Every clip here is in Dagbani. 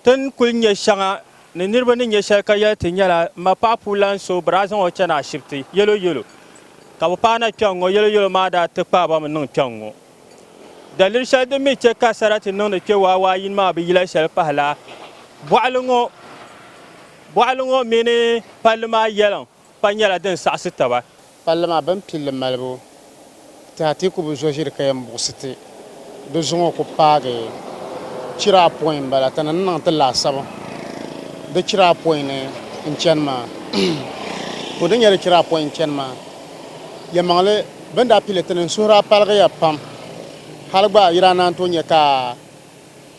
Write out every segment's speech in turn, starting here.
Ti ni kul nya shɛŋa ni niriba ni nya shɛli ka yɛli ti nyɛla m ma paɣ puu lan so bɛ daa zaŋ o chani ashibiti yɛloyɛlo ka bɛ paai na kpɛŋŋɔ yɛloyɛlo maa daa ti kpaai ba mi niŋ kpɛŋŋɔ. Daliri shɛli din mi chɛ ka sarati niŋdi kpe waawaa yini maa bi yila shɛli pahi la bɔɣili ŋɔ bɔɣili ŋɔ mini palli maa yɛliŋ. Pa nyɛla din saɣisi taba. Palli maa bɛn pilli malibu ti Atiku bi zo ʒiri ka yɛn buɣisi ti di zuŋɔ ku paagi chira apɔin m-bala ti ni ni niŋ ti laasabu di chira apɔin ni n-chani maa. Ku ni nyɛ di chira apɔin n-chani maa yɛlimaŋli bɛn daa pili ti ni n suhuri a paligiya pam hali gba yi daa naan tooi nya ka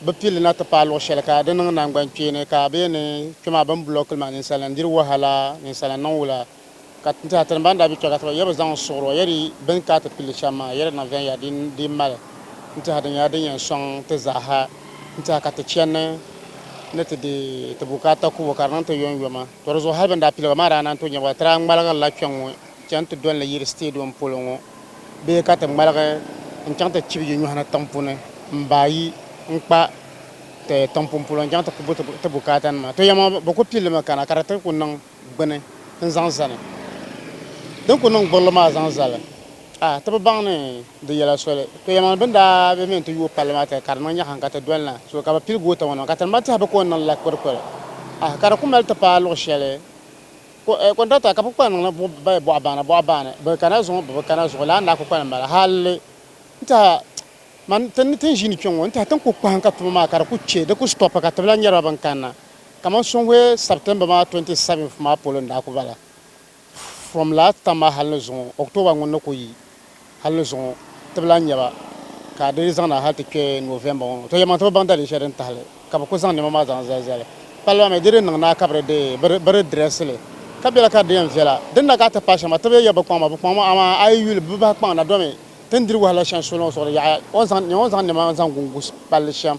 bi pili na ti paai luɣ shɛli ka di niŋ naŋgban kpeeni ka bɛ yɛn ni kpe maa bɛn bulɔk kuli maa ninsalnim diri wahala ninsalnim niŋ wula ka n tɛha tini ban daa bi kpe ka ti ba yɛbi zaŋ n suɣiri o yɛdi bɛn ka ti pili shɛm maa yɛdi na viɛnya din di mali n tɛha di nyɛla din yɛn sɔŋ ti zaaha n tɛha ka ti chɛnni ni ti di ti bukaata kubu ka di niŋ ti yɔnyɔma tɔ di zuɣu hali bɛn daa pili ba maa daa naan tooi nyɛba ka ti daa ŋmaligiri la kpɛŋŋo chani ti doli ni yiri sitɛdiɔm polo ŋo. bee ka ti ŋmaligi n-chaŋ ti chibi yi nyɔhi ni tiŋpuni m-baai yi n-kpa ti tiŋpun polo n-chaŋ ti ku bo ti bukaatanima. To yɛma bɛ ku pili mi kana ka di ti ku niŋ gbini n-zaŋ zani. Din ku niŋ gburili maa zaŋ zali, a ti bi baŋ ni di yɛla soli. To yɛma bɛ ni daa be mi n-ti yooi palli maa tiri ka di niŋ nyɛhim ka ti doli na so ka bɛ pili goota ŋɔ niŋ ka ti ni ba tɛhi bɛ ka o ni niŋ la kpirikpiri. A ka di ku mali ti paai luɣ shɛli. Kɔntrata ka kukpal niŋ ni bɛ bɔɣa baana bɔɣa baani, bɛ kana zuɣu bɛ bi kana zuɣu lala n daa kukpal m-bala hal n tɛha man ti ni tin ʒiini kpe ŋɔ n tɛha tin ku kpahim ka tuma maa ka di ku che di ku stɔpi ka ti bi lahi nyariba bɛn kanna kaman Sonhue September maa 27th maa polo n daa ku bala from last tam maa hal ni zuŋɔ October ŋun ni ku yi. hali ni zuŋɔ ti bi lahi nya ba ka di yi zaŋna hali ti kpe November ŋɔ to yɛlimaŋli ti bi baŋ dalin shɛli din tahili ka bɛ kuli zaŋ nɛma maa zaŋ zali zali palli maa mi di di niŋ ni a ka bɛ di bɛ di dirɛsi li ka bela ka di di yɛn viɛla din na ka a ti paai shɛŋa ti bi yɛliya bɛ kpaŋ ma bɛ kpaŋ ma amaa a yi yuli bɛ bahi kpaŋ na domi ti ni diri wahala shɛŋa soli ŋɔ zuɣu di yaɣiya o ni yɛn zaŋ nɛma zaŋ gu gu palli shɛm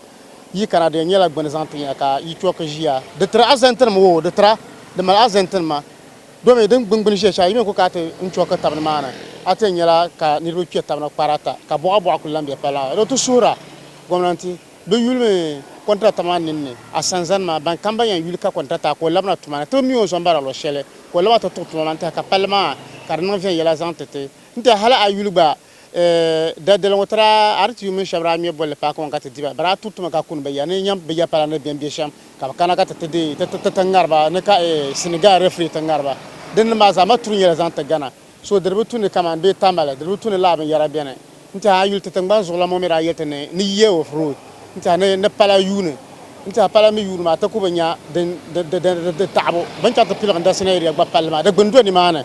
yi kana di yɛn nyɛla gbuni zaŋ ti nya ka yi chɔki ʒiya di tiri azɛntinima woo di tira di mali azɛntinima Domi din gbingbini ʒiya shɛli yi mi ku kana ti n chɔki tab nimaani, a ti yɛn nyɛla ka niriba kpe tab na kpari ata ka bɔɣa bɔɣa kuli lan be pala maa zuɣu. Ti suhira gomnanti bɛ yuli mi kɔntiraata maa ninni a sani zani maa, ban kam ban yɛn yuli ka kɔntiraata a ka o labina tuma ni ti bi mi o zɔn bara luɣ shɛli ka o laba ti tuɣi tuma maa n-tɛha ka palli maa ka di niŋ viɛnyɛla zaŋ ti ti n-tɛha hali a yuli gba. Dadali ŋɔ tira RTU mini shɛba daa ŋme bolli paaki ŋɔ ka ti di ba. Bɛ daa tuhi ti mi ka kuni bɛ ya ni nyam bɛ ya pala ni bɛn be shɛm ka bɛ kana ka ti ti ti ŋari ba ni ka Senegal referee ti ŋari ba. Dindin maa zaama turi nyɛla zaŋ ti Ghana. So di di bi tu ni kaman bee Tamale, di di bi tu ni lala binyɛra beni. N-tiɛha a yuli ti tiŋgbani zuɣulan ŋɔ mi daa yɛli ti ni ni year of road n-tiɛha ni ni pala yuuni. N-tiɛha pala mi yuuni maa ti ku bi nya di taɣibu. Binchɛriti piligi n-dasi Nigeria gba palli maa di gbini do nimaani.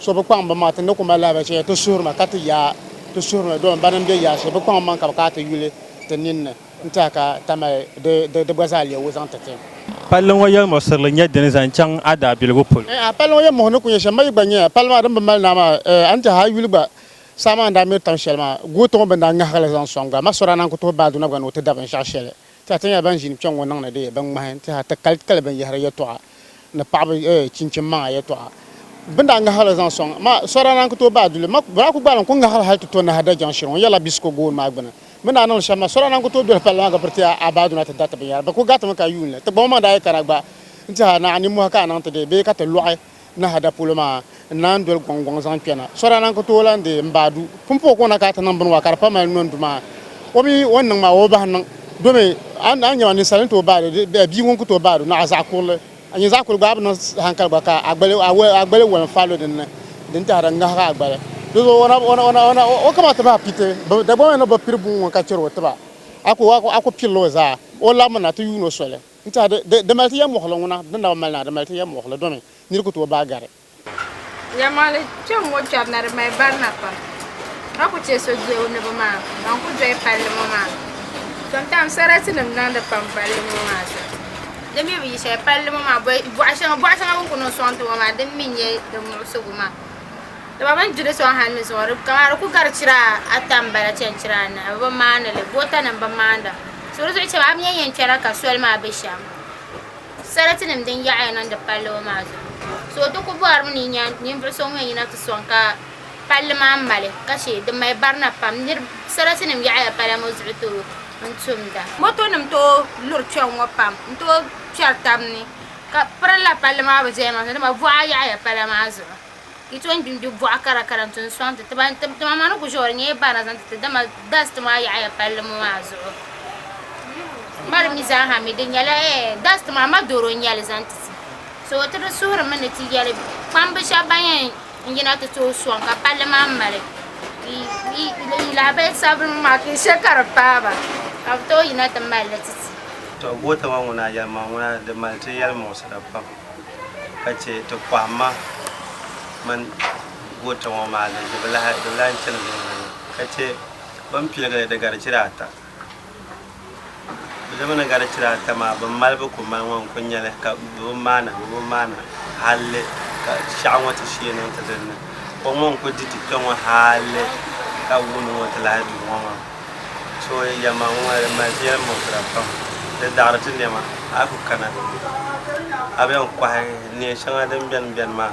So bi kpaŋ binmaŋa, ti ni ku mali lahabali shɛli ti suhiri ma ka ti yaai ti suhiri ni dɔɣim barinim be yaashili. Bi kpaŋ maŋ ka bi kana ti yuli ti ninni n-tɛha ka ta mali di di gba zaa leei wuzan ti ti. Palli ŋɔ yɛlimuɣisirili nyɛ dini zaŋ chaŋ a daabiligu polo? Eeha, palli ŋɔ yɛlimuɣisiri ni ku nyɛ shɛm. Ma yi gba nya palli maa din bi mali naa maa, eeh, a ni tɛha a yuli gba saha maa ni daa miri tam shɛli maa, goota ŋɔ bɛ ni daa ŋahigi li zaŋ sɔŋ gba, ma sɔrana n-ku tuhi Baaduna gba ni o ti da binshɛɣu shɛli Ti ha ti nyɛla ban ʒini kpɛŋŋɔ niŋdi di bin ŋmahi, ti ha ti kali kali binyɛhiri yɛtɔɣa ni paɣiba chinchini maŋa yɛtɔɣa. Bɛ ni daa ŋahiri li zaŋ sɔŋ ma, sɔra naan ku tooi baai duli ma. Bɛ daa ku gbaali n-ku ŋahiri hal ti to nahi Dajaŋ shiri ŋɔ yɛla Bisiko gooni maa gbini. Bɛ ni daa niŋdi shɛm ma, sɔra naan ku tooi doli palli maa ka piri ti a baaduna ti dariti binyɛra. Bɛ ku garitimi ka yuuni li ti gba ma maŋ daa yi kana gba n-ti ha ni a nimmɔhi ka a niŋ ti dee bee ka ti lɔɣi. Nahada polo maa n-naan doli gɔŋgɔŋ zaŋ kpɛna. Sɔdaa na n-ku tooi lan deei m-baadu. Pumpɔɔ ka o na ka ti niŋ bini wa ka di pa mali nɔndu maa. O mi o ni niŋ maa o bi bahi niŋ. Domi a ni nya ma ninsal ni tooi baadu bee bia ŋun ku tooi baadu ni a zaɣ kurili. A nyin zaɣ kurili gba a bi niŋ hankali gba ka a gbali a gbali woli n-faai lo din ni. Din tahira n-ŋahigi a gbali. Di zuɣu o na o na o na o kama ti bahi piti. Dagbamba ni bi piri buŋ ŋun ka chɛri o tiba. A ku a ku pirila o zaa. O labimi na ti yuun o soli. N tiɛha di, di, di mali ti yɛlmuɣili ŋuna di naba mali na, di mali ti yɛlmuɣili domi nir ku tooi baai gari. Yɛlmuɣili kpɛm ŋɔ kpɛbu na di mali barina pam ka ku chɛ so doli o ni bi maa ban ku doli palli ŋɔ maa zuɣu. Tintaam saratinim niŋdi pam palli ŋɔ maa zuɣu. Di mi bi yi shɛli palli ŋɔ maa bɔɣ shɛŋa bɔɣ shɛŋa bɛ ni ku niŋ sɔŋ ti ŋɔ maa din mi nyɛ din muɣisi gu maa. Dama bɛ ni gbi li sɔŋ hali ni zuɣu kaman di ku gari chira ata m-bala chani chira anahi bɛ bi maani li gɔɔtanima bi maanda so di zuɣu cham a mi yɛn yɛn chana ka soli maa be shɛm saratinima din yaɣi ya niŋdi palli ŋɔ maa zuɣu so di ku bɔrimi ni ninvuɣ so ŋun yɛn yina ti sɔŋ ka palli maa mali ka che di mali barina pam saratinima yaɣi ya pala ŋɔ zuɣu tooi n-tumda motonima tooi luri kpɛŋ ŋɔ pam n-tooi kpɛri taba ni Ka pirila palli maa bi diɛhi maa zuɣu dama boɣa yaɣaya pala maa zuɣu yi tom gbi n gbi boɣa kara kara n tom soŋ titi ban tima maa ni ku ʒɛya ŋo di nyɛla barina zaŋ titi dama dast maa yaɣaya palli ŋo maa zuɣu n ma di mii zaaha mii di nyɛla dast maa madoro n nyɛli zaŋ titi so ti di suhurimi ni ti yɛli kpamba shab ban yɛn n yina ti tooi sɔŋ ka palli maa mali lahabali sabibu ŋɔ maa ka yi che ka di paai ba ka bɛ tooi yina ti mali li titi. Tɔ! Goota ŋɔ ŋuna yɛlimaŋli ŋuna di mali ti yɛlimuɣisira pam ka che ti pɔhimma mini goota ŋɔ maa di bi lahi chani viɛnyɛliŋga ka che bɛ ni piligiri di gari chira ata. Bɛ dama ni gari chira ata maa, bɛn mali bɛ ku mali ŋɔ n-kul nya li, ka bɛ bi maana, bɛ bi maana halli ka shɛɣu ŋɔ ti shee niŋ ti din ni. Kom ŋɔ n-kul di ti kpe ŋɔ halli ka wuuni ŋɔ ti lahi du ŋɔ maa. So yɛma ŋɔ maa di mali ti yɛli muɣisira pam, di daɣiri ti nɛma. A yi ku kana, a bɛn kɔhi neen shɛŋa din beni beni maa.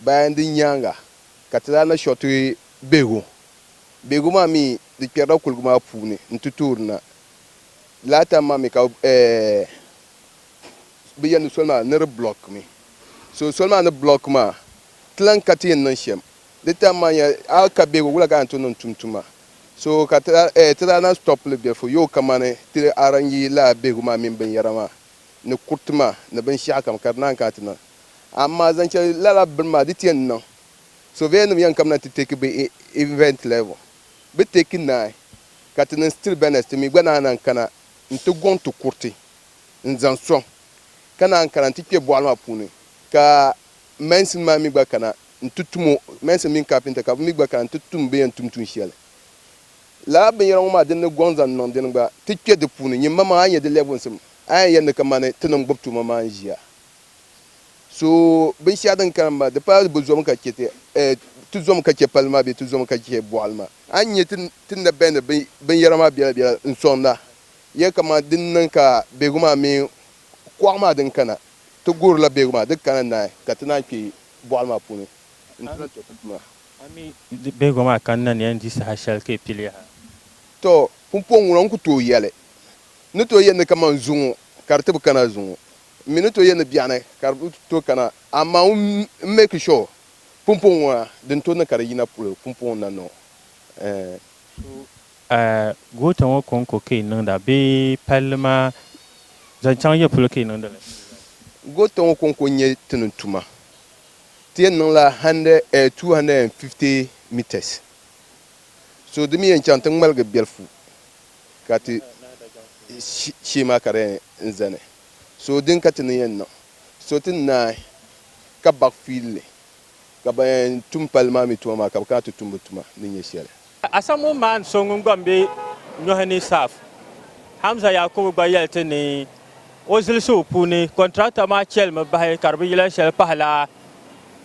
Bayan din nyaaŋa ka ti daa na shɔriti bihigu. Bihigu maa mi di kpɛrila kuligu maa puuni n-ti toori na. Lala time maa mi ka bɛ yɛli ni soli maa ni di block mi. So soli maa ni block maa ti lan ka ti yɛn niŋ shɛm. Di time maa nyɛla a yi ka bihigu wula ka a ni tooi niŋ tum tuma. So ka ti daa na stop li bɛlifu yoo kamani ti arrange lala bihigu maa mini binyɛra maa ni kuriti maa ni binshɛɣukam ka di naan kana ti niŋ. Amaa zaŋ cheli lala bini maa di ti yɛn niŋ. Surveyor nim yɛn kamina ti take bɛ event level. Bɛ take naai ka ti niŋ still bɛnɛs ti mi gba naan lahi kana n ti gɔŋ ti kuriti n zaŋ sɔŋ ka naan kana n ti kpe bɔɣili maa puuni ka mason maa mi gba kana n ti tum o mason mini carpenter ka bɛ mi gba kana n ti tum bɛ yɛn tum tuun sheli. Lala binyɛra ŋɔ maa din ni gɔŋ zaŋ niŋ dini gba ti kpe di puuni. Nyimma maa a yi nya di level sim a yɛn yɛli ni kamani ti ni n gbubi tuuma maa n ʒiya. So binshɛɣu din kana maa, di pala bɛ zom ka chɛ ti, eh, ti zom ka chɛ palli maa bee ti zom ka chɛ bɔɣili maa. A ni nya ti, ti na bɛhindi bin, binyɛra maa biɛla biɛla n-sɔŋda ya kaman di ni niŋ ka biɛhigu maa mini kɔɣu maa din kana. Ti guhirila biɛhigu maa di kana naai ka ti naan kpe bɔɣili maa puuni nti na tɔri ti tuma. A mi di biɛhigu maa kanna ni ya n-di saha shɛli ka yi pili yaha? Tɔ! Pumpɔŋ ŋuna n-ku tooi yɛli, N ni tooi yɛli ni kaman zuŋɔ ka di ti bi kana zuŋɔ. M mi ni to yɛn ni biɛɣuni ka di to kana, amaa ŋun m-make sure pumpɔŋɔ ŋɔ na din to ni ka di yina polo pumpɔŋɔ na niŋ eh. So eh goota ŋɔ kɔŋko ka yi niŋda bee palli maa zaŋ chaŋ ya polo ka yi niŋdi li? Goota ŋɔ kɔŋko n-nyɛ ti ni tuma ti yɛn niŋla hundred eh two hundred and fifty metres so di mi yɛn chaŋ ti ŋmaligi bɛlifu ka ti shee maa ka di yɛn zani. So din ka ti ni yɛn niŋ? So ti ni naai ka baɣi fiilli ka ban yɛn tum palli maa mi tuma maa ka bɛ kana ti tum bɛ tuma ni nyɛ shɛli. Asamu maan so ŋun gba m-be nyɔhi ni saaf, Hamza Yakubu gba yɛli ti ni o zilisi o puuni kɔntirakta maa chɛlimi bahi ka di bi yila shɛli pahila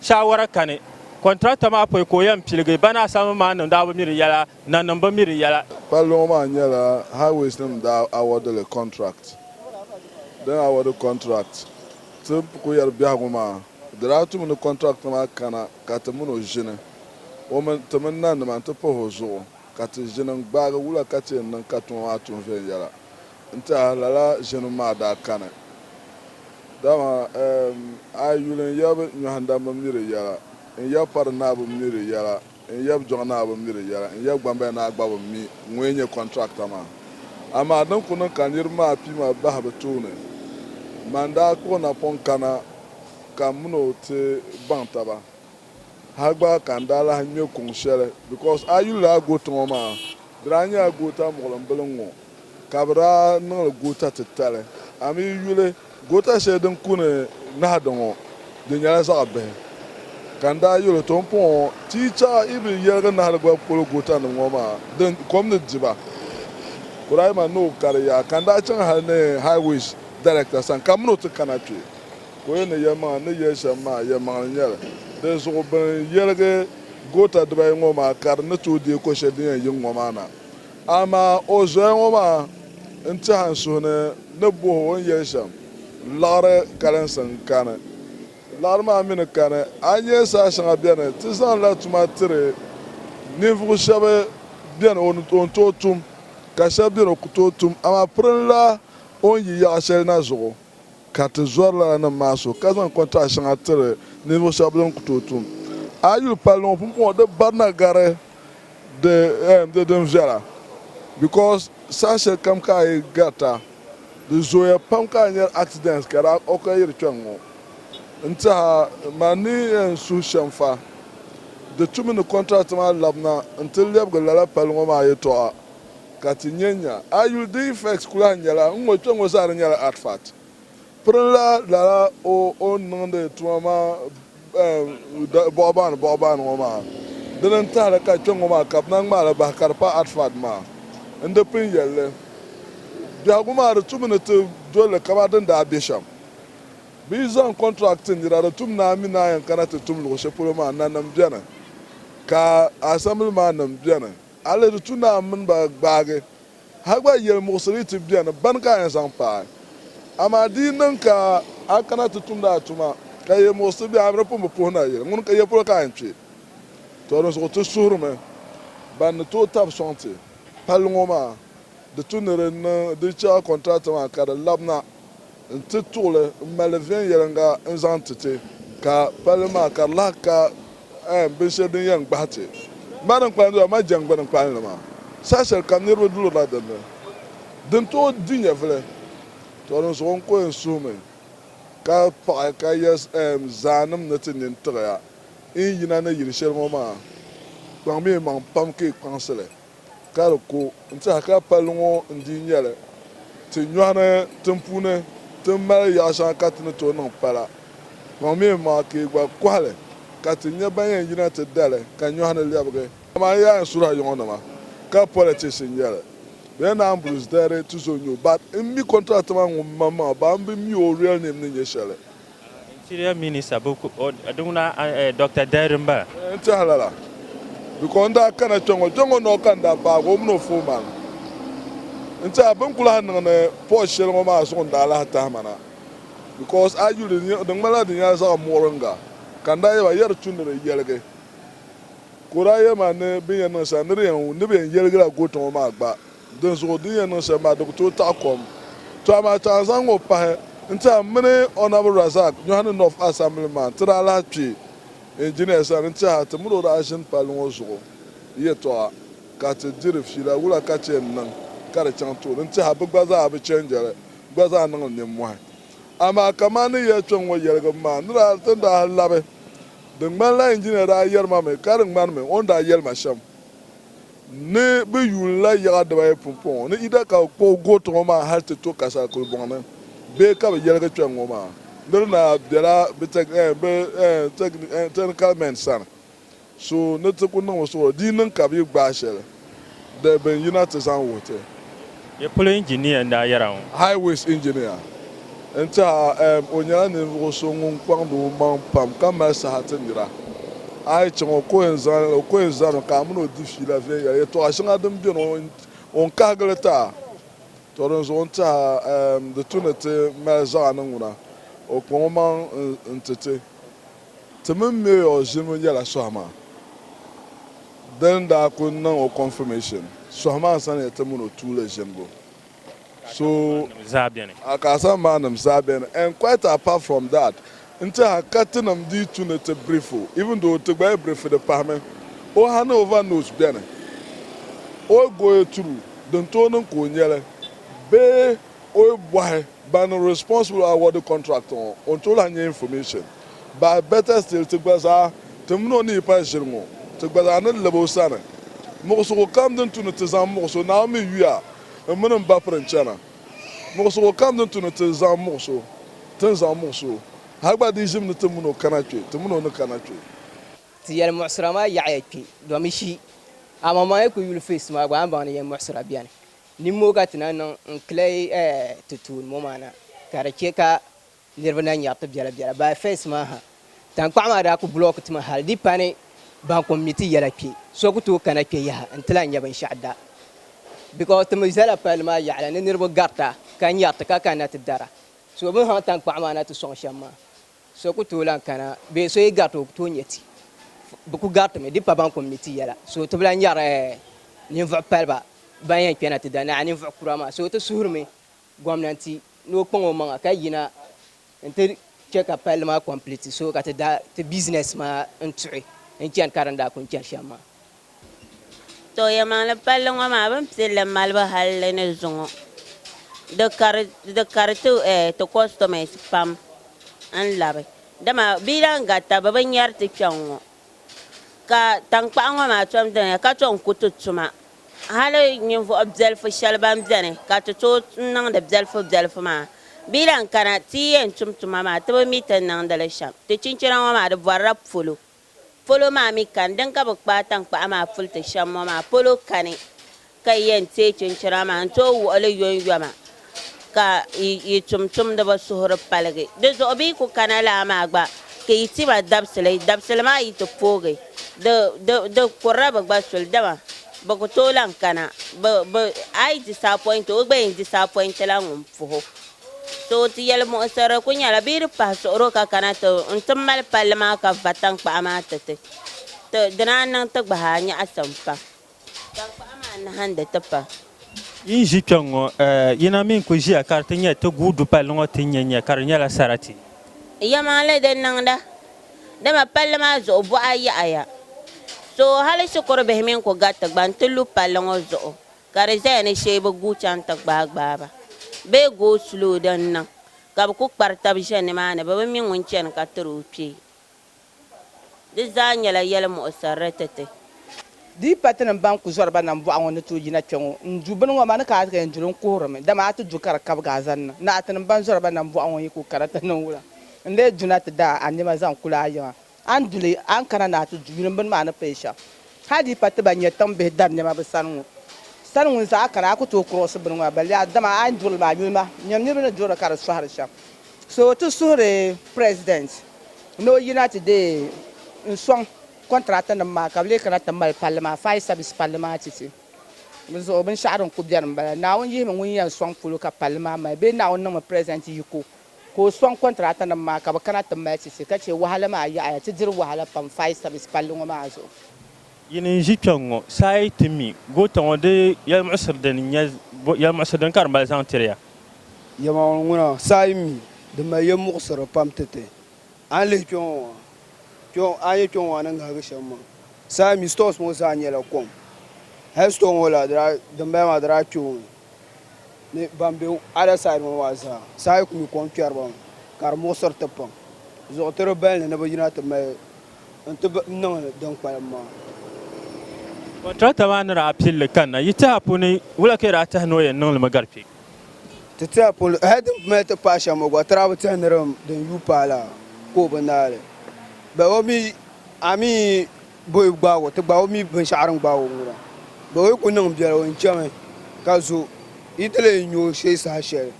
shaawara kani. Kɔntirakta maa pɔi ka o yɛn piligi bana Asamu maan nim daa bi mi di yɛla. Nanim bi mi di yɛla. Palli ŋɔ maa nyɛla Highways nim daa award li contract. Din award contract ti Kuyari biɛhigu maa di daa tumi ni contractor maa kana ka ti mini o ʒini o mini ti mini nanima n-ti pahi o zuɣu ka ti ʒini n-gbaagi wula ka ti yɛn niŋ ka tuma maa tuhi viɛnyɛla n-tiɛha. Lala ʒinim maa daa kani dama eem a yuli n-yab nyɔhindam bi mi di yɛla n-yab pari naa bi mi di yɛla. N yab jɔŋ naa bi mi di yɛla, n yab gbambaya naa gba bi mi ŋun yɛn nyɛ kɔntracta maa. Amaa din ku niŋ ka niriba maa pima bahi bɛ tooni, man daa kpuɣi n napɔŋ kana ka m min o ti baŋ taba. Hal gba ka n daa lahi ŋme kuŋ shɛli, bikos a yuli a goota ŋɔ maa di daa nyɛla goota muɣilim bili n-ŋɔ. ka bɛ daa niŋ li goota titali. A mi yi yuli goota shɛli din kuni Nahadi ŋɔ, di nyɛla zaɣ bihi. Ka n daa yɛl o, To m pɔŋɔ, ti yi chaɣ yi bi yɛligi Nahadi goli polo gootanim ŋɔ maa, di kom ni di ba. Kuraima ni o kari yaha, ka n daa chaŋ hal ni High Wage Director sani ka min o ti kana kpe. Ka o yɛn ni yɛlimaŋli ni yɛli shɛm maa, yɛlimaŋli n-nyɛ li. Dinzuɣu bɛ ni yɛligi goota dibayi ŋɔ maa ka di ni tooi deei ko shɛli din yɛn yiŋ ŋɔ maa na. Amaa o zoya ŋɔ maa n-tɛhi n suhu ni ni bohi o ni yɛli shɛm laɣiri kalinsi n-kani. Laɣiri maa mi ni kani, a ni nya saha shɛŋa beni ti zaŋla tuma tiri ninvuɣ shɛb beni o ni tooi tum ka shɛb beni o ku tooi tum, amaa pirinla o ni yi yaɣ shɛli na zuɣu. Ka ti zɔri lala nim maa so ka zaŋ kɔntaat shɛŋa tiri ninvuɣu shɛba bini ku tooi tum. A yi yuli palli ŋɔ pumpɔŋɔ di barina gari di eem di din viɛla because saha shɛli kam ka a yi garita di zooya pam ka a nyari accidents ka daa occur yiri kpɛŋ ŋɔ. N tiɛha man ni eem suhu shɛm fa di tumi ni contractor maa labina n ti lɛbigi lala palli ŋɔ maa yɛltɔɣa ka ti nya nya. A yuli di effects ku lahi nyɛla n ŋɔ kpe ŋɔ zaa di nyɛla artefact. Pirinla lala o o ni niŋdi tuma maa ehm bɔɣubaani bɔɣubaani ŋɔ maa. Dini n tahili ka kpe ŋɔ maa ka bɛ na ŋmaai li bahi ka di pa artefact maa. N di pun yɛli li. Biɛhigu maa di tumi ni ti doli li kamani din daa be shɛm. Bɛ yi zaŋ contract ti nira di tum ni a mi ni a yɛn kana ti tum luɣu shɛli polo maa nanim beni ka assembly maa nim beni. A leei di tu ni a mini ba gbaagi ha gba yɛlimuɣisiri ti beni bɛn ka a yɛn zaŋ paai. Amaa di yi niŋ ka a kana ti tumdi a tuma ka yɛlimuɣisiri be a ni di pun bi puhi ni a yɛli ŋuni ka yɛ polo ka a yɛn kpe? Tɔ dinzuɣu ti suhirimi bɛn ni tooi tabi sɔŋ ti palli ŋɔ maa. Di tu ni di niŋ di chɛɣu kɔntirati maa ka di labina n-ti tuɣili m-mali viɛnyɛliŋga n-zaŋ ti ti ka palli maa ka di lahi ka ɛɛm binshɛli din yɛn gbahi ti ma din kpalim doli ma jɛŋgbuni kpalinli maa saha shɛli kam niriba dulirila din ni din tooi di nyɛvili tɔ di zuɣu n-ku yɛn suhi mi ka paɣi ka yɛli ɛɛm zaanim ni ti nini tiɣi ya n yina ni yili shɛli ŋɔ maa kpaŋmiya maŋ pam ka yi kpaŋsi li Ka di ku n-tɛha ka palli ŋɔ n-dii nyɛ li ti nyɔhi ni tin puuni ti ni mali yaɣ shɛŋa ka ti ni tooi niŋ pala pɔŋ mi m-maŋa ka yi gba kɔhi li ka ti nyɛ ban yɛn yina ti da li ka nyɔhi ni lɛbigi. Dama n yaai n suhira yiŋɔnima ka politics n-nyɛ li. Bɛ yɛn naai m-buri zidayiri ti zo nyu but m mi contract maa ŋun maŋmaŋa ban bi mi o real name ni nyɛ shɛli. Interior Minister bi ku o di ŋuna Doctor Dairy n bala. N tehi lala because n daa kana kpe ŋɔ kpeŋɔ noo ka n daa paagi o mini o foon maa mi. N teha bini ku lahi niŋ ni port sheli ŋɔ maa zuɣu n daa lahi tahi ma na because a yuli di ŋmani la di nyela zaɣi muɣiringa ka n daa yeba yɛ di tu ni di yeligi ka o daa yema ni bini yɛn niŋ sheli ni di yɛn wum ni bɛ yɛn yeligi la goot ŋɔ maa gba Dinzuɣu din yɛn niŋ shɛm maa di ku tooi taɣi kom. Tɔ amaa ti a zaŋ o pahi n-ti a mini Honourable Razak Nyɔhini North Assembly man ti daa lahi kpi Engineer sani n-ti a ti mini o daa ʒini palli ŋɔ zuɣu yɛtɔɣa ka ti diri fiila wula ka chɛ n-niŋ ka di chaŋ tooni n-ti a bɛ gba zaa bi change li gba zaa niŋ li nimmɔhi. Amaa kaman ni yɛli kpɛŋ ŋɔ yɛligim maa ni daa ti ni daa labi di ŋmanila Engineer daa yɛri ma mi ka di ŋmanimi o ni daa yɛli ma shɛm. ni bɛ yuun la yaɣa dibaayi pumpɔŋɔ ni Ida ka bɛ kpuɣi gooti ŋɔ maa hal ti to Kasa kulibɔŋ ni bee ka bɛ yɛligi kpɛŋ ŋɔ maa nir na bela bɛ technical men sani so ni ti ku niŋ o suhuri di yi niŋ ka bɛ yi gbaai shɛli di bɛ ni yina ti zaŋ wuhi ti Nyɛ polo injiniya n-daa yɛra ŋɔ. Highways engineer n-tiɛha eem o nyɛla ninvuɣu so ŋun kpaŋdi o maŋ pam ka mali saha ti nira. A yi chaŋ o ka o yɛn zaŋ o ka o yɛn zani ka a mini o di fiila viɛnyɛla. Yɛltɔɣa shɛŋa din beni o ni kahigi li ti a. Tɔ dinzuɣu n-tiɛha eem di tu ni ti mali zaɣa ni ŋuna o kpaŋ o maŋ n-ti ti. Ti mini Mayor ʒinimi nyɛla sohi maa bɛ ni daa kuli niŋ o confirmation sohi maa sani ya ti mini o tuuli ʒinibu so a ka asahi maa nim zaa beni and quite apart from that n tiɛha ka ti nim dii tu ni ti brief o even though ti gba yi brief di pahimi o hand over note beni o goye turu din tooi niŋ ka o nyɛli bee O yi bɔhi ban niŋ responsible awarding contract ŋɔ o ni tooi lahi nyɛ information but better still ti gba zaa ti mini o ni yi pali ʒiri ŋɔ ti gba zaa ni lab o sani muɣisigu kam din tu ni ti zaŋ muɣis o Naawuni mi yuya n mini n ba piri n chana muɣisigu kam din tu ni ti zaŋ muɣis o ti ni zaŋ muɣis o ha gba di ʒim ni ti mini o kana kpe ti mini o ni kana kpe. Ti yɛli muɣisira maa yaɣiya kpe domi shee amaa maa yi kuli yuli face maa gba a ni baŋ ni yɛn muɣisira beni Nimmɔɔ ka ti na niŋ n-kilihi ti tuun mo maa na, ka di che ka niriba na nyaɣi ti biɛla biɛla. By first maa ha, taŋkpaɣu maa daa ku bulɔki ti mi hal di pa ni ban kom mi ti yɛla kpe, so ku tooi kana kpe yaha nti lahi nya binshɛɣu da. Because ti mi zala palli maa yaɣili ni niriba garita ka nyaɣi ti ka kanna ti dara. So bɛ ni haŋ taŋkpaɣu maa na ti sɔŋ shɛm maa, So ku tooi lan kana bee so yi gariti o ku tooi nya ti? Bɛ ku garitimi di pa ban kum ni ti yɛla. So ti bi lan nyari ninvuɣ paliba ban yɛn kpɛna ti da naai ninvuɣ kura maa. So ti suhirimi gomnanti ni o kpaŋ o maŋa ka yina nti chɛ ka palli maa kɔmpliti so ka ti da ti bizinɛs maa n-tuhi n-chani ka di ni daa kuni chani shɛm maa. To yɛmaŋli palli ŋɔ maa bini pilli malibu halli ni zuŋɔ di kari ti kɔsitɔmɛs pam n labi dama bɛ yi lahi garita bɛ bi nyari ti kpɛŋ ŋɔ ka tankpaɣu ŋɔ maa tom doya ka tom ku ti tuma hali ninvuɣu bɛlifu shɛli ban bɛni ka ti tooi niŋdi bɛlifu bɛlifu maa bɛ yi lahi kana ti yi yɛn tum tuma maa ti bi mi ti ni niŋdi li shɛm ti chinchina ŋɔ maa di bɔrila polo. polo maa mi kani, din ka bɛ kpaai taŋkpaɣu maa puli ti shɛm ŋɔ maa polo kani, ka yi yɛn teei chinchina maa n-tooi wuɣi li yɔnyɔma, ka yi yi tumtumdiba suhuri paligi di zuɣu, bɛ yi ku kana laa maa gba, ka yi ti ma dabisili, dabisili maa yi ti poogi, di, di, di kurila bɛ gba suli, dama bɛ ku tooi lahi kana, bɛ, bɛ, a yi disapɔinti o, o gba yɛn disapɔintila ŋun puhi o. To ti yɛlimuɣisiri ku nyɛla bee di pahi suɣiro ka kana ti n ti mali palli maa ka va taŋkpaɣu maa ti ti. Ti di naan niŋ ti gbahi a nyaɣisim pam. Taŋkpaɣu maa nahindi ti pam. Yi ni ʒi kpɛŋ ŋɔ, yi na mi n-kul ʒiya ka di ti nyɛ ti guui du palli ŋɔ ti nya nya ka di nyɛla sarati. Yɛlimaŋli din niŋda, dama palli maa zuɣu buɣa yaɣiya. So hali shikuru bihi mi n-ku gariti gba n-ti lu palli ŋɔ zuɣu. ka di zaya ni shee bi guui chaŋ ti gbaai gbaai ba bee go slow din niŋ ka bi ku kpari taba ʒe nimaani bɛ bi mi ŋun chani ka tiri o kpee di zaa nyɛla yɛlimuɣisirili ti ti. Di yi patinim ban ku zɔri ba nambɔɣu ŋɔ ni tooi yina kpɛŋɔ n-du bini ŋɔ maa ni ka a ti yɛn duli n-kuhirimi dama a ti du ka di kabigi a zaŋ niŋ ni atinim ban zɔri ba nambɔɣu ŋɔ yi ku kana ti niŋ wula n-lee duna ti daai a nɛma zaŋ kuli a yiŋa A ni duli a ni kana ni a ti yuuni bini maa ni pay shɛm hal di yi pa ti ban nyɛ tiŋ bihi dari nɛma bɛ sani ŋɔ. Sani ŋun zaɣ kana a ku tooi kurɔsi bini ŋɔ bali yaha dama a ni duri li maa yuuni ma nyam niriba ni duri li ka di sɔhiri shɛm. So ti suhiri President ni o yina ti deei n sɔŋ contract nim maa ka bɛ lee kana ti mali palli maa fire service palli maa ti ti. Di zuɣu binshɛɣu din ku beni m-bala. Naawuni yihimi ŋun yɛn sɔŋ polo ka palli maa mali bee Naawuni niŋmi President yiko. Ka o sɔŋ kɔntiraatanim maa ka bɛ kana ti mali ti ti ka chɛ wahala maa yaɣiya. Ti diri wahala pam fire service palli ŋɔ maa zuɣu. Yi ni ʒi kpɛŋ ŋɔ sa a yi ti mi goota ŋɔ di yɛlimuɣisiri din nyɛ yɛlimuɣisiri din ka di mali zaŋ tiri ya. Yɛlimaŋli ŋuna sa a yi mi di mali yɛlimuɣisiri pam ti ti. A ni lihi kpɛŋ ŋɔ maa, kpɛŋ a ni nyɛ kpɛŋ ŋɔ maa ni ŋahigi shɛm maa sa a yi mi stores ŋɔ zaa nyɛla kom. Hali store ŋɔ la di daa dimbala maa di daa kpɛ o mi. ni ban be other side ŋɔ maa zaa saha yi ku mi kom kpɛriba ŋɔ ka di muɣisiri ti pam zuɣu ti di bali ni ni bɛ yina ti mali n-ti niŋ din kpalim maa. Contractor maa ni daa pili li kanna, yi tɛha puuni wula ka yi daa tɛhi ni o yɛn niŋ li mi gari kpe? Ti tɛha puuni, hali din mali ti paai shɛm ŋɔ gba ti daa bi tɛhi ni din yuui paai la ka o bi naai li but o mi I mean Bɛ yi gbaag o, ti gbaag o mi binshɛɣu din gbaag o ŋɔ la. Bɛ yi ku niŋ biɛla, o ni chami ka zo, yi ti lee nya o shee saha shɛli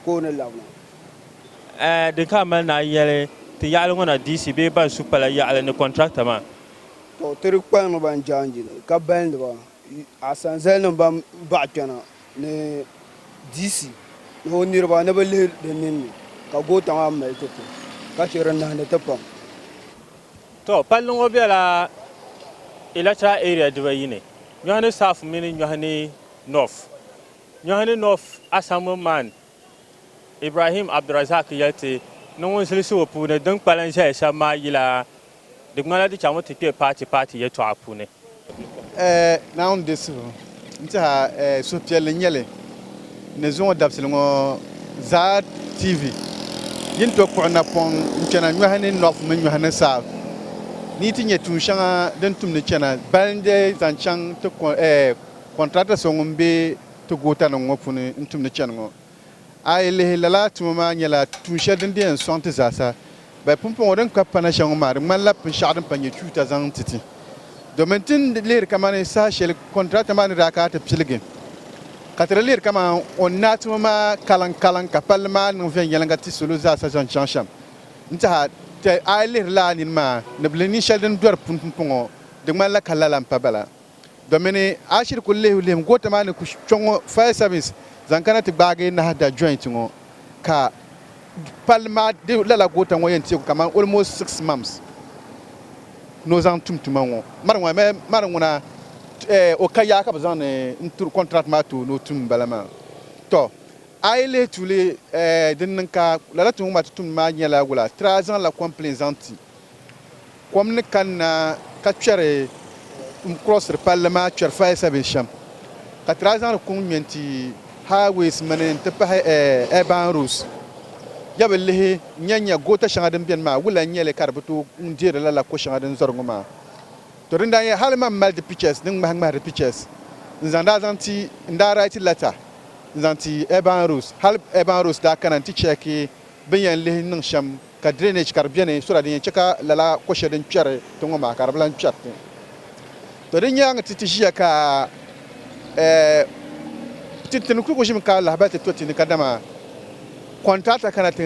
ka o ni labina. Ɛɛ di ka a mali ni a yɛli ti yaɣili ŋɔ na DC bee ban su pala yaɣili ni kɔntrata maa? Tɔ! Ti di kpalim ba n-jaanjili ka balindi ba, asanzalinim ban baɣi kpɛna ni DC ni o niriba ni bɛ lihi di ninni ka goota maa mali ti ti ka chɛ di nahindi ti pam. To, palli ŋɔ bela electoral area dibayi ni, Nyɔhini South mini Nyɔhini North. Nyɔhini North Assemblyman Ibrahim Abdulrazaq yɛli ti ni ŋun zilisi o puuni din kpalim zaya shɛba maa yila di ŋmanila di chaŋmi ti kpe paati paati yɛltɔɣa puuni. Ɛɛ Naawuni di suhu n-tiha ɛɛ suhupiɛlli n-nyɛ li ni zuŋɔ dabisili ŋɔ zaa TV yi ni tooi kpuɣi napɔŋ n-chana nyɔhi ni North mini nyɔhi ni South ni yi ti nyɛ tuun shɛŋa din tum ni chana balin di zaŋ chaŋ ti ɛɛ contractor so ŋun be ti goota nim ŋɔ puuni n-tum ni chani ŋɔ. A yi lihi, lala tuma maa nyɛla tuun shɛli din di yɛn sɔŋ ti zaasa. Bɛ pumpɔŋɔ din ka pana shɛŋa maa, di ŋmanila binshɛɣu din pa nyɛ chuuta zaŋ n-ti ti. Domin ti ni lihiri kamani saha shɛli kɔntirakta maa ni daa kana ti piligi, ka ti di lihiri kamani o ni naai tuma maa kaliŋkaliŋ ka palli maa niŋ viɛnyɛliŋga ti salo zaasa zaŋ chaŋ shɛm n-tiha. Tɛha a yi lihiri lala nini maa ni bɛ ni nin shɛli din dɔri puni pumpɔŋɔ, di ŋmanila ka lala m-pa bala. Do mini Ashir kuli lihibu lihim goota maa ni ku kpe ŋɔ fire service zaŋ kana ti gbaagi Nahda joint ŋɔ ka palli maa di lala goota ŋɔ yɛn teeku kamani almost six months ni o zaŋ tum tuma ŋɔ mari ŋɔ amaa mari ŋuna eh, o ka yaa ka bɛ zaŋdi n tiri contract maa ti o ni o tum m-bala maa tɔ a yi lihi tuuli eh, din niŋ ka lala tuma ŋɔ maa ti tumdi maa nyɛla wula tira zaŋla complain zaŋ ti Kom ni kanna ka kpɛri n-kurɔsiri palli maa kpɛri fali Sabin shɛm, ka tiraai zaŋdi kuŋ ŋmɛ n-ti highways mini n-ti pahi urban roads. Ya bi lihi n-nya nya goota shɛŋa din beni maa wula n-nyɛ li ka di bi tooi n-deeri lala ko shɛŋa din zɔri ŋɔ maa? To din daa nyɛ hali man mali di pictures din ŋmahi ŋmahi di pictures n-zaŋ daa zaŋ ti n-daa write letter n-zaŋ ti urban roads hali urban roads daa kana n-ti check bɛ ni yɛn lihi niŋ shɛm ka drainage ka di beni so that din yɛn chɛ ka lala ko shɛli din kpɛri tiŋ ŋɔ maa ka di bi lan kpɛri tiŋ. To di nyaaŋa ti ti ʒiya ka eh tintin kul ku ʒimi ka lahibali ti to ti ni kadama contractor kana ti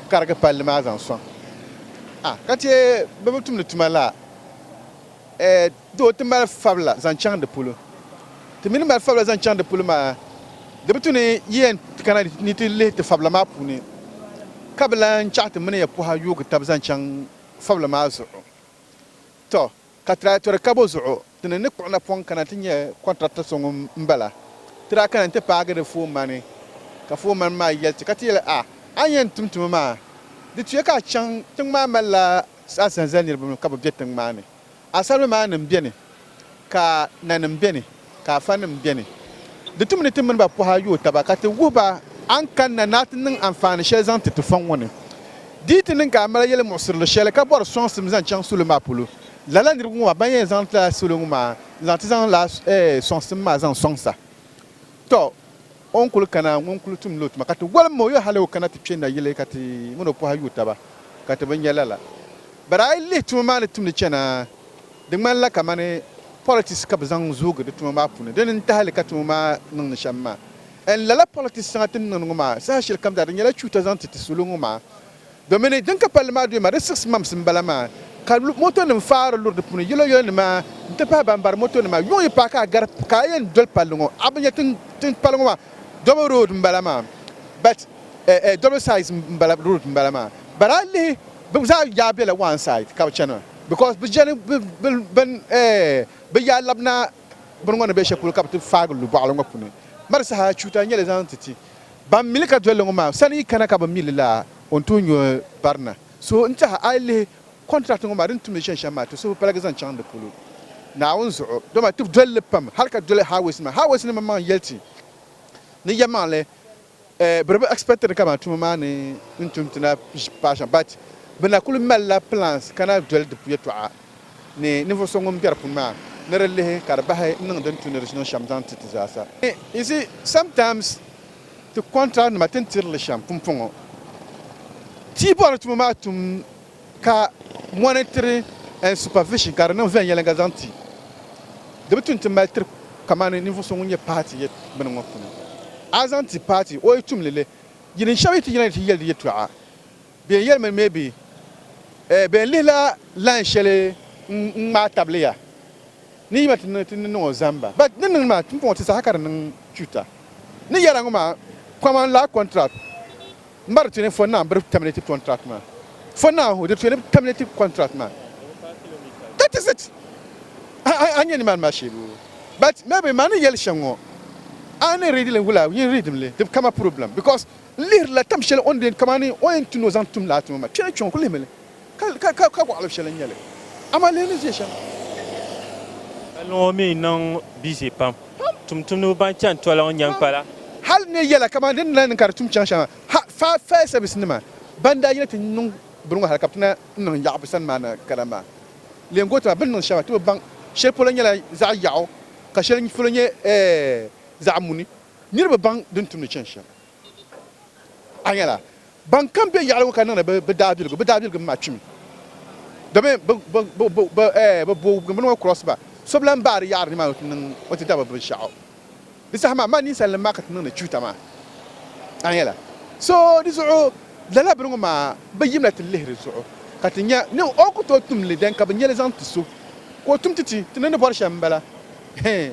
karigi palli maa zaŋ sɔŋ. Ah ka ti bɛ bi tumdi tuma la eh. Doo ti mali fabila zaŋ chaŋ di polo. Ti mi ni mali fabila zaŋ chaŋ di polo maa, di bi tu ni yi yɛn ti kana ni ti lihi ti fabila maa puuni ka bi lan chaɣ ti mini ya pɔha yoogi tab zaŋ chaŋ fabila maa zuɣu. Tɔ! Ka ti daa tɔri kabo zuɣu ti ni ni kpuɣi napɔŋ kana ti nya kɔntrata so ŋun m-bala. Ti daa kana nti paagi di foomani, ka foomani maa yɛli ti ka ti yɛli, A! A ni yɛn tum tuma maa, di tuya ka a chaŋ tiŋ maa malila a zali zali niriba mi ka bɛ be tiŋ maa ni. Asarimi maa nim beni, ka nanim beni, ka afanim beni. Di tumi ni ti mini ba pɔha yooi taba ka ti wuhi ba a ni kanna ni a ti niŋ anfaani shɛli zaŋ ti ti fɔŋ ŋɔ ni. Di yi ti niŋ ka a mali yɛlimuɣisirili shɛli ka bɔri sɔŋsim zaŋ chaŋ salo maa polo, lala niriba ŋɔ maa ban yɛn zaŋ lala salo ŋɔ maa n-zaŋ ti zaŋ lala sɔŋsim maa zaŋ sɔŋsa. Tɔ! O ni kul kana ŋun kul tumdila o tuma, ka ti walim o yo hal o kana ti kpe nayili ka ti min o pɔha yuui taba, ka ti bi nya lala. Bari a yi lihi tuma maa ni tumdi chana, di ŋmanila kamani politics ka bɛ zaŋ zoogi di tuma maa puuni. Dini n-tahi li ka tuma maa niŋ ni shɛm maa? N lala politics shɛŋa ti ni niŋdi ŋɔ maa, saha shɛlikam zaa di nyɛla chuuta zaŋ ti ti salo ŋɔ maa. Domini din ka palli maa duyima di six months m bala maa ka motonim faai di luri di puuni yɛlo yɛlo nima n ti pahi ban bari moto nima yuŋ yi paai ka a gari ka a yɛn doli palli ŋɔ a bi nya tin pali ŋɔ maa double road m bala maa but eh double sides m bala road m bala maa but a lihi bi zaa yaa bela one side ka bi chana because bi jani bin eh bi yaa labina bini ŋɔ ni be shɛli polo ka bi ti faagi lu bɔɣili ŋɔ puuni mali saha chuta n nyɛli zaŋ ti ti Ban mi li ka dol li ŋɔ maa sani yi kana ka bi mi li la o ni tooi nyo barina. So n tiɛha a yi lihi contract ŋɔ maa di ni tumdi shɛli shɛm maa ti suhu paligi zaŋ chaŋ di polo Naawuni zuɣu. Dama ti dol li pam hali ka doli highways nima. Highways nima maŋ yɛli ti ni ya maŋ li eh biri bi expect ni ka ban tuma maa ni n tum ti na paai shɛm but bi na kuli mali la plans ka na doli di yɛtɔɣa. ni ninvuɣ so ŋun biɛri pun maa ni di lihi ka di bahi n niŋ din tu ni di ʒiniŋ shɛm zaŋ ti ti zaasa. You see, sometimes ti contract nima ti ni tiri li shɛm pumpɔŋɔ ti bɔri ni tuma maa tum ka monitoring and supervision ka di niŋ viɛnyɛliŋga zaŋ ti di bi tu nti mali tiri kamani ninvuɣ so ŋun nyɛ party yɛ bini ŋɔ puuni a zaŋ ti party o yi tum li li yi ni shɛb yi ti yina ni ti yɛli di yɛtɔɣa Bɛ yɛn yɛlimi ni maybe eh, bɛ yɛn lihila line shɛli n-ŋmaai tabili ya ni yi ma ti niŋ ni niŋ o zamba but ni niŋ maa m-puŋ ti saha ka di niŋ chuta ni yɛla ŋɔ maa kaman laa contract m-ba di tuni for now biri terminate contract maa for now ho di tuni bi terminate contract maa that is it a nya nimaani maa sheebu but maybe maa ni yɛli shɛŋ ŋɔ a ni read li wula yin read mi li di bi kama problem because N lihirila tam shɛli o ni be kamani o yɛn ti ni o zaŋ tum laa tuma maa. Kpɛna kpiɔŋ ku lihimi li ka ka gɔɣili shɛli n-nyɛ li. Amaa lihi ni ʒiɛ shɛm. Ka niŋɔ mi niŋ bizi pam. Tumtumdiba ban chani toli ŋɔ nyani kpala. Hali ne yɛla kamani din ni lahi niŋ ka di tum chaŋ shɛŋa ha, fire fire service nima ban daa yina ti niŋ bini ŋɔ hali ka bɛ ti na niŋ yaɣu bɛ sani maa na kara maa. Leei goota maa bɛ ni niŋ shɛŋa ti bi baŋ. Shɛli polo nyɛla zaɣi yaɣu ka shɛli polo nyɛ eh zaɣi muni. Niriba baŋ din tumdi chani shɛm. A nyɛla, ban kam be yaɣili ŋɔ ka niŋdi bɛ daabiligu, bɛ daabiligu mi maa kpimi domin bɛ boowubgimbuni ŋɔ cross ba. So bi lan baai di yaɣiri nimaani nti niŋ o ti dabiri binshɛɣu. Di saha maa, mani ninsalinim maa ka ti niŋdi chuuta maa. A nyɛla, so di zuɣu lala bini ŋɔ maa bi yimla ti lihiri zuɣu ka ti nya ni o ku tooi tum li dɛn ka bi nya li zaŋ ti so ka o tum ti ti. Ti ni ni bɔri shɛm m-bala. Hee!